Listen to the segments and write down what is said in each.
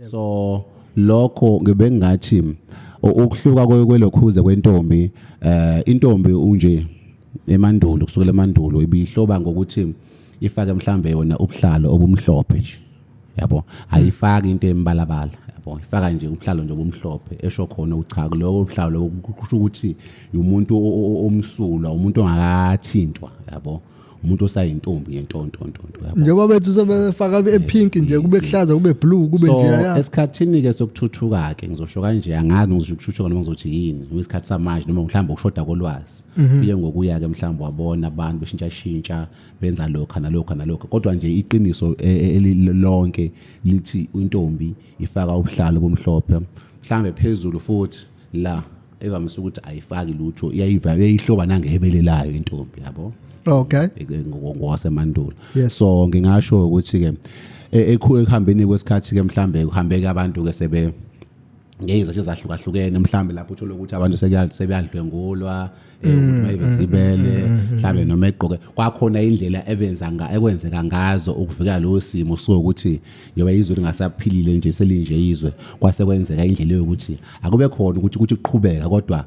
so lokho ngibengathi ukuhluka kwelokhuze kwentombi eh intombi unje emandulo kusukela emandulo ibihloba ngokuthi ifake mhlambe yona ubuhlalo obumhlophe nje yabo ayifaki into embalabala yabo ifaka nje ubuhlalo nje obumhlophe esho khona uchaku lokho ubuhlalo kusho ukuthi umuntu omsulwa umuntu ongakathintwa yabo umuntu osayintombi yentontontonto njengoba bethu sebefaka epink nje kube kuhlaza kube blue kube nje ya esikhathini ke sokuthuthuka ke ngizosho kanje angazi ngizosho ukuthuthuka noma ngizothi yini ngesikhathi samanje noma mhlawumbe ukushoda kolwazi mhm. kuye ngokuya ke mhlawumbe wabona abantu beshintsha shintsha benza lokho nalokho nalokho kodwa nje iqiniso e, e, elilonke lithi intombi ifaka ubuhlalo bomhlophe mhlawumbe phezulu futhi la evamise ukuthi ayifaki lutho iyayivala uyayihloba nangehebele layo intombi yabo okay ngokwasemandulo yes. so ngingasho ukuthi ke e, ekhu ekuhambeni kwesikhathi ke mhlambe kuhambeke abantu ke sebe ngeyizathu ezahlukahlukene mhlambe lapho uthole ukuthi abantu sebeyadlwengulwa e, mm, ukuthi mayibezibele mm, mm, mhlambe noma egqoke kwakhona indlela ebenza nga ekwenzeka ngazo ukuvikela lo simo so ukuthi yoba izwe lingasaphilile nje selinje izwe kwase kwenzeka indlela yokuthi akube khona ukuthi ukuthi kuqhubeka kodwa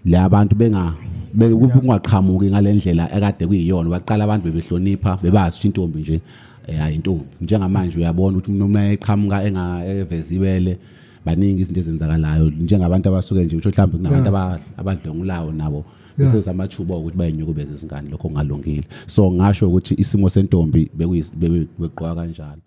le abantu benga bekungaqhamuki ngalendlela ekade kuyiyona baqala abantu bebehlonipha bebazi ukuthi intombi nje eh, hayi intombi njengamanje uyabona ukuthi umuntu uma eqhamuka engavezi ibele baningi izinto ezenzakalayo njengabantu abasuke nje utho mhlawumbe kunabantu abadlongulawo nabo bese samathuba ukuthi bayinyukubeze izingane lokho kungalungile so ngasho ukuthi isimo sentombi bekuyigqoka kanjalo